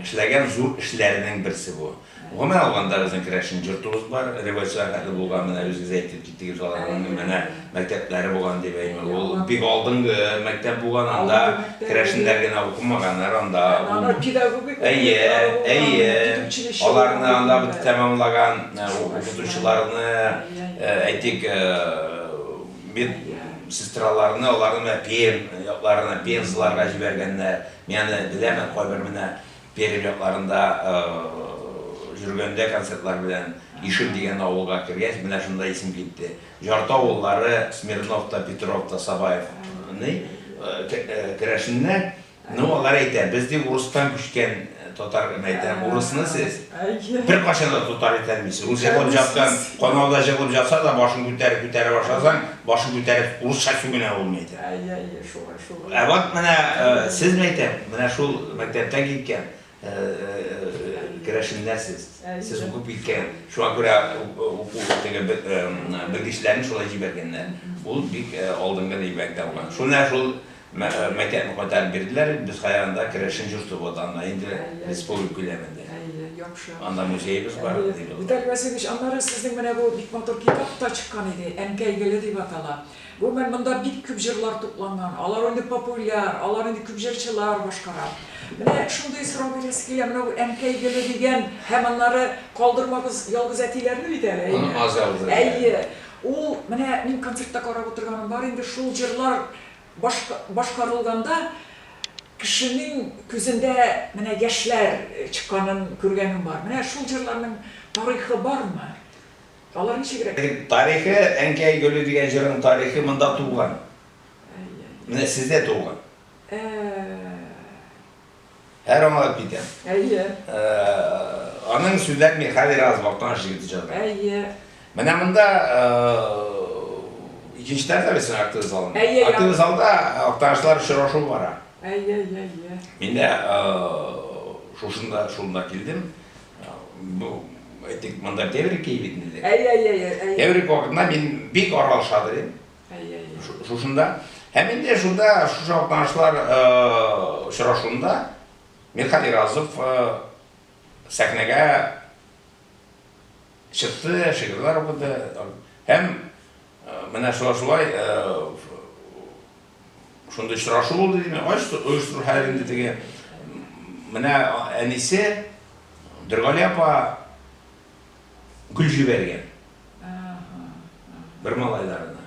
эшләгән зур эшләренең берсе бу. Гомумән алганда, безнең керәшен җортыбыз бар, революциягә хәтле булган, менә үзегез әйттегез. Теге шаларның менә мәктәпләре булган дип әйтми. Ул бик алдынгы мәктәп булган, анда керәшеннәр генә укымаганнар, анда ул педагогик Әйе,
әйе.
Аларны анда бит тәмамлаган укытучыларны, әйтик, мед сестраларны, аларны менә Пермь якларына, пензаларга җибәргәннәр. Мин аны беләмен, кайбер менә Пермь якларында йөргәндә концертлар белән Ишем дигән авылга кергәч, менә шунда исем китте. Ярты авыллары, Смирнов та, Петров та, Сабаев ный, керәшеннәр. Ну, алар әйтә, без ди урыстан күчкән татар. Мин әйтәм, урысны сез беркайчан да татар итә алмыйсыз. Рус җырлап җаткан, канауда җырлап җатса да, башын күтәреп-күтәрә башласаң, башын күтәреп урысча сүгенә ул, мин әйтәм. Әйе, әйе, шулай.
Ә вот менә
сез мәктәп, менә шул мәктәптә киткән керәшеннәр сез. Сез укып киткән. Шуңа күрә уку теге белгечләрен шулай җибәргәннәр. Ул бик алдынгы дип мәктәп булган. Шуна шул мәктәпне кайтарып бирделәр. Без хайранда керәшен йорты булды анда инде республика күләмендә. Яхшы. Анда музеебыз бар. Виталий Васильевич,
аннары сезнең менә бу бик матур китап та чыккан иде. Әнкәй гөле дип атала. Гомумән, монда бик күп җырлар тупланган. Алар инде популяр, алар инде күп җырчылар башкара. Менә шундый сорау бирәсе килә, менә бу Әнкәй гөле дигән һәм аннары Калдырмагыз ялгыз әтиләрне бит әле, әйеме? Аны аз ялгыз әтиләр. Әйе. Ул, менә мин концертта карап утырганым бар инде, шул җырлар башка башкарылганда кешенең күзендә менә яшьләр чыкканын күргәнем бар. Менә шул җырларның тарихы бармы? Алар ничегрәк? Тарихы,
Әнкәй гөле дигән җырның тарихы монда туган. Менә сездә туган. Һәр аңлап китәм. Әйе. Аның сүзләрен мин хәзер аз вакыттан җигеп җырлыйм. Әйе. Менә
монда
икенче тәрәфтә бит актив залында. Әйе. Актив залда актанышлар очрашу бара. Әйе, әйе, әйе.
Мин дә
шушында, шунда килдем. Бу әйтик, монда теврик ки бит инде. Әй-әй-әй. Теврик
вакытында мин
бик аралаша дидем. Әй-әй.
Шушында.
Һәм инде шунда шушы атнашлар очрашуында Мирхат Иразов сәхнәгә чыкты, шигырьләр укыды. Һәм менә шулай-шулай Шундый очрашу булды, дим, ачтык, оештыру хәер инде теге. Менә әнисе Дөргали апа гөл җибәргән. Бер малайларына.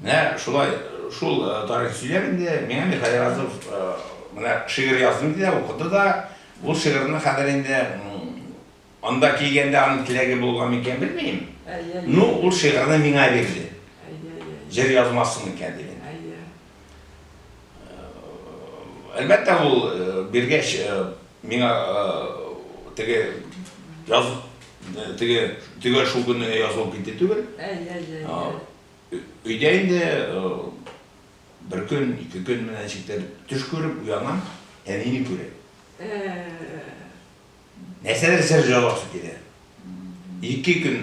Менә шулай, шул э, тарих сөйләп инде, миңа Михаил Разов э, менә шигырь яздым диде, укыды да, бу шигырьне хәзер инде Анда килгәндә аның теләге булган микән, белмим. Ну, ул шигырьне миңа бирде. Җыр язмассың микән, диде. Әлбәттә, ул биргәч, миңа теге яз теге төгәл шул көнне язылып китте түгел. Өйдә инде бер көн, ике көн менә ничектер төш күреп уянам, әнине күрә. Нәрсәдер сер җавасы килә. Ике көн,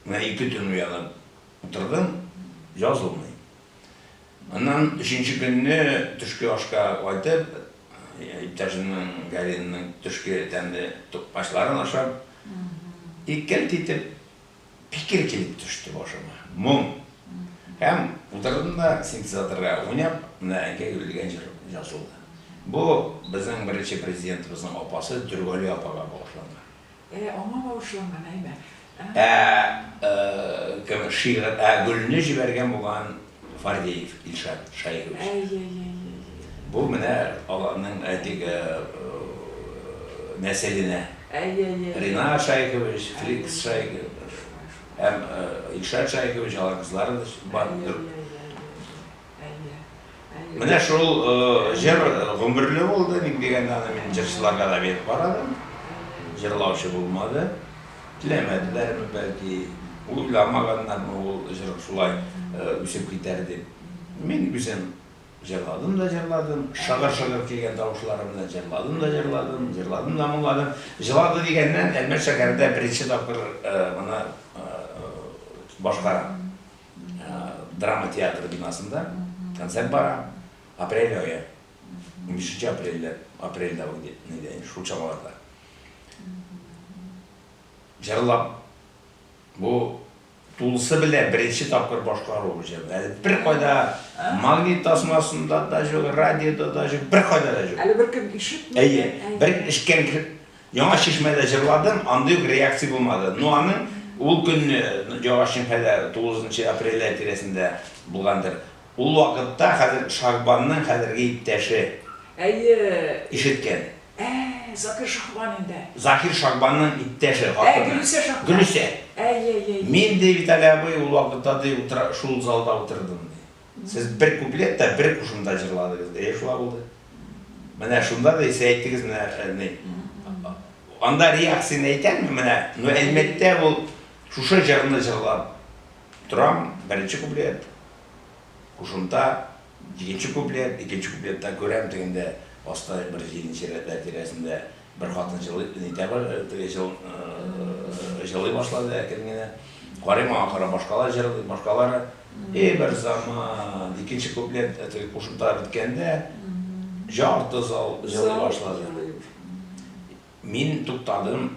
менә ике төн уянып утырдым, язылмый. Аннан өченче көнне төшке ашка кайтып, иптәшемнең Галинның төшке тәмле тукмачларын ашап, иккәлт итеп, Фикер килеп төште башыма. Моң. Һәм утырдым да синтезаторга уйнап, менә әнкәй өлгергән җыр язылды. Бу безнең беренче президентыбызның апасы Дөргали апага багышланган. Ә, аңа
багышланган, әйбәт. Ә,
кем, шигырь, ә, гөлне җибәргән булган Фардеев Илшат Шаирович. Әй-әй-әй-әй-әй-әй. Бу менә аларның әлеге нәселенә. Әй-әй-әй-әй. Ринат Шаикович, Фликс Шаиков һәм Илшат Шаикович, алар кызлары да бар. Әй-әй-әй-әй-әй. Әйе. Әйе. Менә шул җыр гомерле булды, ник дигәндә, аны мин җырчыларга да биреп карадым. Җырлаучы булмады. Теләмәделәрме, бәлки, уйламаганнармы ул җыр шулай үсеп китәр дип. Мин үзем җырладым да җырладым, шыгыр-шыгыр килгән тавышларым белән җырладым да җырладым, җырладым да моңладым. Җылады дигәннән, Әлмәт шәһәрендә беренче тапкыр моны башкарам. Драма театры бинасында концерт бара. Апрель ае. Унбишенче апрельдә, апрельдә ул, нидә, шул чамаларда. Җырлап. Бу тулысы белән беренче тапкыр башкару бу җырны. Әле бер кайда магнит тасмасында да җок, радиода да җок, бер кайда да җок. Әле
бер кем ишетми.
Әйе. Бер ишкән яңа чишмәдә җырладым, андый ук реакция булмады. Ну аны ул көнне яңа чишмәдә 9 апрель тирәсендә булгандыр. Ул вакытта хәзер Шагбанның хәзерге иптәше. Әйе.
Ишеткән.
Ә, Закир
Шагбан инде. Закир Шагбанның
иптәше, хатыны. Ә, Гөлүсә Шагбан.
Гөлүсә. Әйе-әйе.
Мин, ди, Виталий абый, ул вакытта,
ди,
утра, шул залда утырдым, ди. Сез бер куплет та, бер кушымта җырладыгыз. Әйе, шулай булды. Менә шунда, ди, сез әйттегез менә, ә, ни. Анда реакцияне әйтәме, менә, ну, Әлмәттә ул шушы җырны җырлап. Торам, беренче куплет, кушымта, икенче куплет, икенче куплетта күрәм, тегендә аста бер җиденче рәтләр тирәсендә бер хатын җылый, нитә бар, теге җыл, җылый башлады әкрен генә. Карыйм аңа карап, башкалар җырлый, башкалары. И бер заман, икенче куплет, теге кушымта беткәндә, җарты зал җылый башлады. Мин туктадым.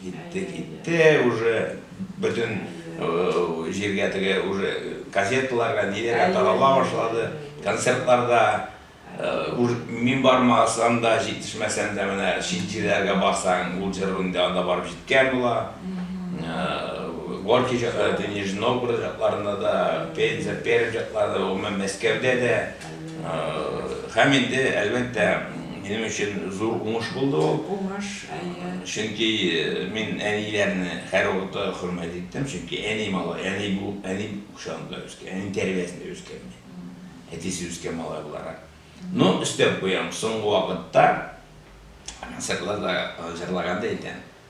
Китте, китте уже бөтен җиргә теге уже газеталарга, ниләргә тарала башлады. Концертларда мин бармасам да, җитешмәсәм дә менә чит җирләргә барсаң, ул җыр инде анда барып җиткән була. Горький җырлары, Нижний Новгород җырларында да, Пенза, Пермь җырларында, гомумән Мәскәүдә дә. Һәм инде, әлбәттә, минем өчен зур уңыш булды ул. Уңыш, әйе. Чөнки мин әниләрне һәрвакытта хөрмәт иттем, чөнки әни малай, әни бу, әни кочагында үскән, әни тәрбиясендә үскән мин. Әтисе үскән малай буларак. Но өстәп куям, соңгы вакытта концертларда җырлаганда әйтәм,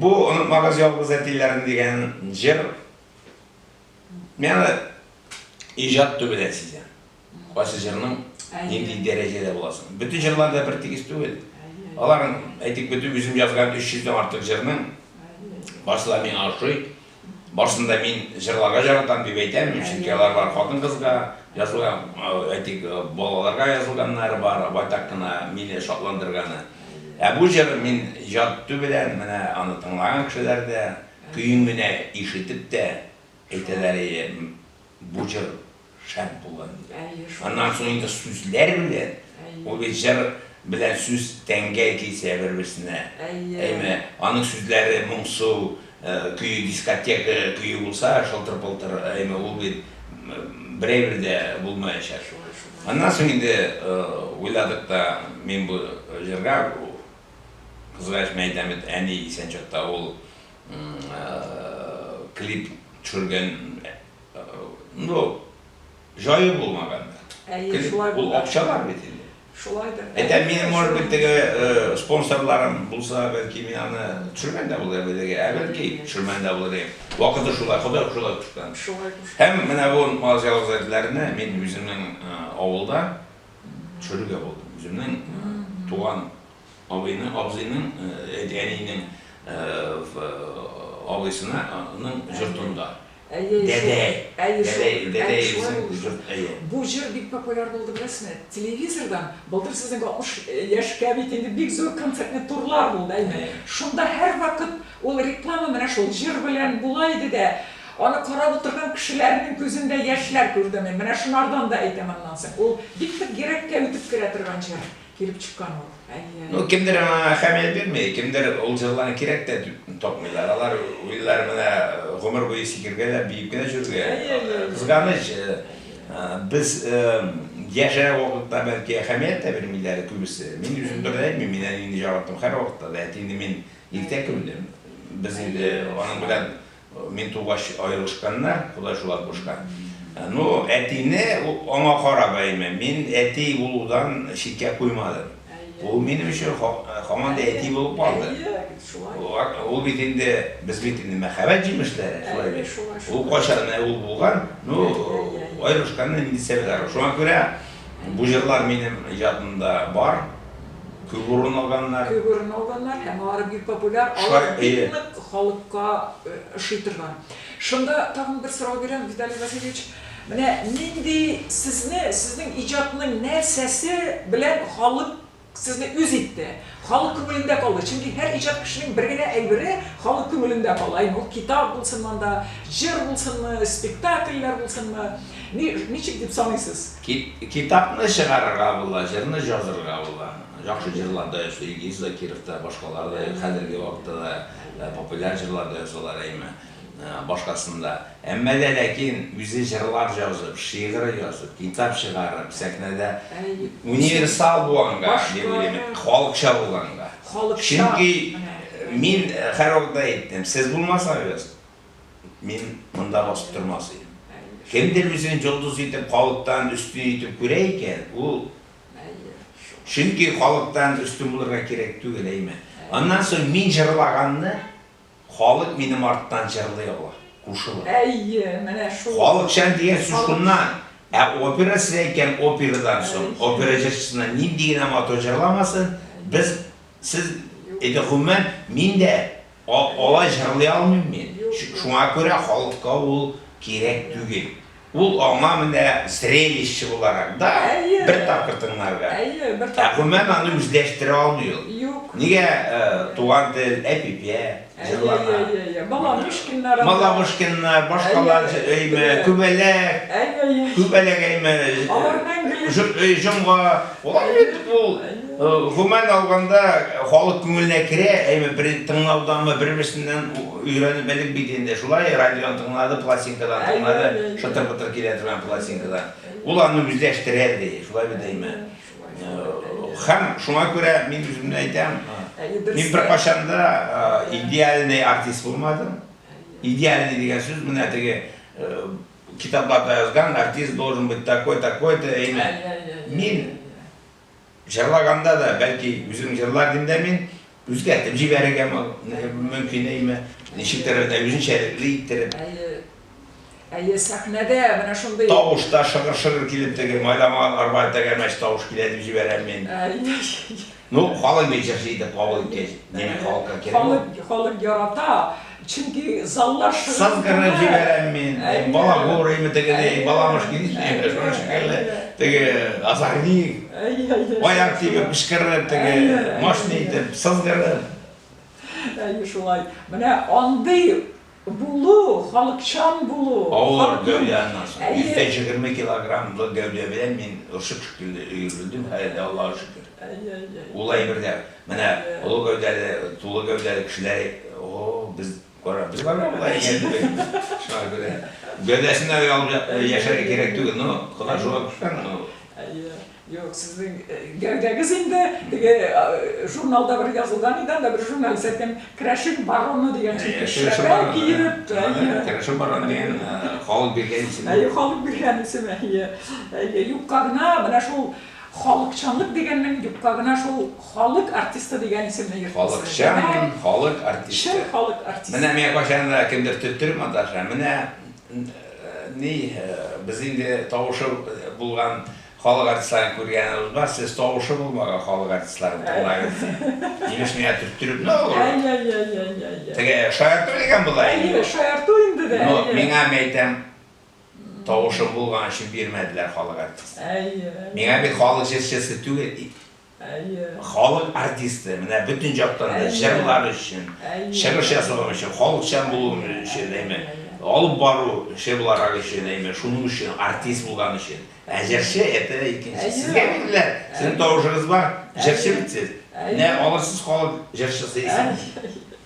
Бу Онытмагыз ялгыз әтиләрен дигән җыр мин аны иҗат түбәдә сизәм. Кайсы җырның нинди дәрәҗәдә буласын. Бөтен җырлар да бертигез түгел. Аларның, әйтик, бөтен үзем язган 300 дән артык җырның барсы да миңа ошый. Барсын да мин җырларга җаратам дип әйтәм, чөнки алар бар хатын-кызга язылган, әйтик, балаларга язылганнары бар, байтак кына мине шатландырганы. Ә бу җыр мин яту белән менә аны тыңлаган кешеләр дә, көен генә ишетеп тә әйтәләр, әйе, бу җыр шәп була инде. Әйе шул. Аннан соң инде сүзләр белән, ул бит җыр белән сүз тәнгә килсә бер-берсенә. Әйе. Әйме, аның сүзләре моңсу, көе дискотека көе булса, шылтыр-пылтыр, әйме, ул бит берәйбер дә булмаячак. Шулай шул. Аннан соң инде уйладык та, мин бу җырга, Кызгач мәйдә мет әни исән чакта ул клип төшергән, Ну, җае булмаган да. Әйе, шулай булды. Ул акча бар бит инде. Шулайдыр. Әйтә,
мин, может
быть, теге э, спонсорларым булса, бәлки мин аны төшергән дә булыр белеккә, ә бәлки төшермәгән дә булыр идем. Вакыты шулай, Ходай шулай кушкан. Шулай кушкан. Һәм менә бу мал җавазләрне мин үземнең э, авылда төшерергә булдым. Үземнең э, туган абыйның, абзыйның, э, әнинең э, в- э, абыйсына, аның йортында. Әйе, шул. Дәдәй. Әйе, шул. Дәдәй, Әйе, дәдәй шулай дисәң, булды шул. җыр, әйе.
Бу җыр бик популяр булды, беләсезме? Телевизордан, былтыр сезнең 60 яшькә бит инде бик зур концертный турлар булды, әйеме? Әйе. Шунда һәрвакыт ул реклама менә шул җыр белән була иде дә, аны карап утырган кешеләрнең күзендә яшьләр күрдем мин. Менә шунардан да әйтәм аннан соң. Ул бик нык йөрәккә үтеп керә торган җыр. Килеп чыккан ул, әниләре. Ну, кемдер аңа
әһәмият бирми, кемдер ул җырларны кирәк тә дип тапмыйлар. Алар уйлар менә гомер буе сикергә дә, биеп кенә җөрергә. Кызганыч, без яшерә вакытта бәлки әһәмият тә бирмиләр күбесе. Мин үзем турында әйтмим, мин әнине җараттым һәрвакытта да, әтине мин иртә күмдем. Без инде аның белән Мин тугач аерылышканнар, Ходай шулай кушкан. Ну, әтине аңа карап әйме, мин әти булудан читкә куймадым. Ул минем өчен һаман да әти булып калды. Ул бит инде, без бит инде мәхәббәт җимешләре, шулай бит. Ул кайчан менә ул булган, ну, аерылышканнан инде сәбәләр. Шуңа күрә бу җырлар минем иҗатымда бар.
Күп
урын
алганнар. Күп
урын
алганнар һәм алар бик
популяр,
алар
бик
нык халыкка ошый торган. Шунда тагын бер сорау бирәм, Виталий Васильевич, менә нинди сезне, сезнең иҗатның нәрсәсе белән халык сезне үз итте, халык күңелендә калды? Чөнки һәр иҗат кешенең бер генә әйбере халык күңелендә кала, әйе ул китап булсын монда, җыр булсынмы, спектакльләр булсынмы, ничек дип саныйсыз? Кит, китапны
чыгарырга була, җырны җазырга була. Яхшы җырлар да ясый Илгиз Закиров та, башкалар да, хәзерге вакытта да э, популяр җырлар да ясалар, әйме, э, башкасын да. Әмма дә ләкин үзе җырлар җазып, шигырь язып, китап чыгарып, сәхнәдә Әйе. универсал булганга, Башка- дип уйлыйм, халыкча булганга. Халыкча, Чөнки менә. мин һәрвакыт та әйттем, сез булмасагыз, Мин монда басып тормас идем. Кемдер үзен йолдыз итеп халыктан өстен итеп күрә икән, ул Чөнки халыктан өстен булырга кирәк түгел, әйме? Аннан соң мин җырлаганны халык минем арттан җырлый ала, кушыла. Әйе, менә
шул. Халыкчан дигән сүз
шуннан. Ә опера сездә икән, операдан соң, опера җырчысына нинди генә матур җырламасын, без, сез, әйдә, гомумән, мин дә Алай җырлый алмыйм мин. Шуңа күрә халыкка ул кирәк түгел. Ул аңа менә зрелище буларак да, бер тапкыр тыңларга. Ә гомумән аны үзләштерә алмый ул. Нигә Туган тел, Әпипә җырлана. Малавышкиннар, башкалар җырыймы, Күбәләк, Күбәләк әйме, Җомга. Алар бит ул. Гомумән алганда, халык күңеленә керә, әйме бер тыңлауданмы, бер-берсеннән өйрәнеп элек бит инде шулай, радиодан тыңлады, пластинкадан тыңлады, шытыр-бытыр килә торган пластинкадан. Ул аны үзләштерә, ди, шулай бит, әйме. Һәм шуңа күрә мин үземне әйтәм, мин беркайчан да идеальный артист булмадым. Идеальный дигән сүз менә теге китапларда язган, артист должен быть такой, такой-то, әйме. Мин. Җырлаганда да, бәлки, үзем җырлар идем дә мин, үзгәртеп җибәрергә мөмкин әйме, ничектер үзенчәлекле иттереп. Әйе, әйе, сәхнәдә
менә шундый. Тавыш та шыгыр-шыгыр
килеп, теге майламаган арба тәгәрмәч тавыш килә дип җибәрәм мин. Ну, халык бит җырчы итеп кабул иткәч, димәк, халыкка кирәк ул. Халык, халык ярата.
Чөнки заллар шыгырдана. Саз кырына җибәрәм
мин, балагурыймы теге ни, баламыш ки ничек, шуның шикелле, теге азагник, аяк тибеп кычкырып, теге мощный итеп сызгырып.
Әйе, шулай. Менә андый булу, халыкчан булу. Авыр гәүдә
аннан соң. Әйе. 120 килограммлы гәүдә белән мин орчык шикелле өерелдем, һәле дә, Аллага шөкер. Әйе, әйе. Ул әйбер дә. Менә олы гәүдәле, тулы гәүдәле кешеләр әй, о, без, кара, без барыбер болай исәнлебекбез. Шуңа күрә гәүдәсен дә оялып я, яшәргә кирәк түгел. Ну, Ходай шуңа кушкан, ну. Әйе. Юк,
сезнең гәүдәгез инде теге журналда бер язылган иде, анда бер журналист әйткән, Керәшен бароны дигән шәпрәк киеп. Әйе. Керәшен бароны
дигән халык биргән исем. Әйе, халык биргән исем,
әйе. Әйе, юкка гына менә шул Халыкчанлык дигәннең юкка гына шул халык артисты дигән исемне йөртмәсеннәр. Халыкчан, халык
артисты. Чын халык артисты. Менә
миңа кайчан да
кемдер төттер монтажга, менә ни, без инде тавышы булган халык артистларын күргәнебез бар, сез тавышы булмаган халык артистларын тыңлагыз ди. Имеш миңа төрттереп, ну, теге шаярту дигән була инде. Әйе, шаярту инде
дә. Но миңа мәйтәм,
Тавышым булган өчен бирмәделәр халык артисты. Әйе. Миңа бит халык җырчысы түгел ди. Әйе. Халык артисты, менә бөтен яктан да җырлар өчен, чыгыш ясаган өчен, халыкчан булу өчен, әйме, алып бару эше буларак өчен, әйме, шуның өчен, артист булган өчен. Ә җырчы, это икенче. Сезгә бирделәр, сезнең тавышыгыз бар, җырчы бит сез. Менә алырсыз халык җырчысы исемен.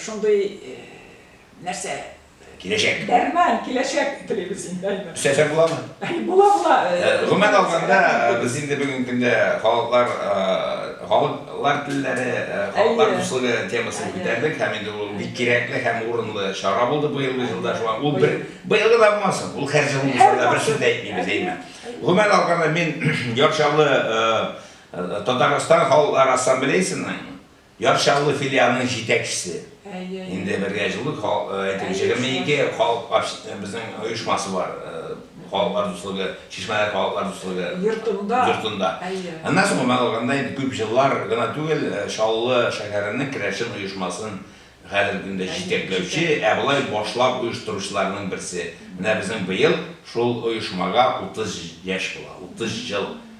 Шундый нәрсә киләчәк.
Дәрмән, киләчәк
телибез инде, Альберт. Эшләсәк буламы?
Була, була.
Гомумән алганда,
без инде бүгенге көндә халыклар, халыклар телләре, халыклар дуслыгы темасын күтәрдек һәм инде ул бик кирәкле һәм урынлы чара булды быелгы елда. Шуңа ул бер, быелгы да булмасын, ул һәр җыл булса да, берсен дә әйтмибез, әйеме? Гомумән алганда, мин Яр Чаллы Татарстан халыклар ассамблеясенең Яр Чаллы филиалының җитәкчесе. Инде бергә җылы халык, әйтик, җегерме ике халык общ, безнең оешмасы бар, Халыклар дуслыгы, Чишмәләр халыклар дуслыгы. Йортында. Йортында. Әйе. Аннан соң гомәл алганда инде күп җыллар гына түгел, Чаллы шәһәренең керәшен оешмасын хәзерге көндә җитәкләүче, ә болай башлап оештыручыларның берсе. Менә безнең быел шул оешмага утыз яшь була, утыз җыл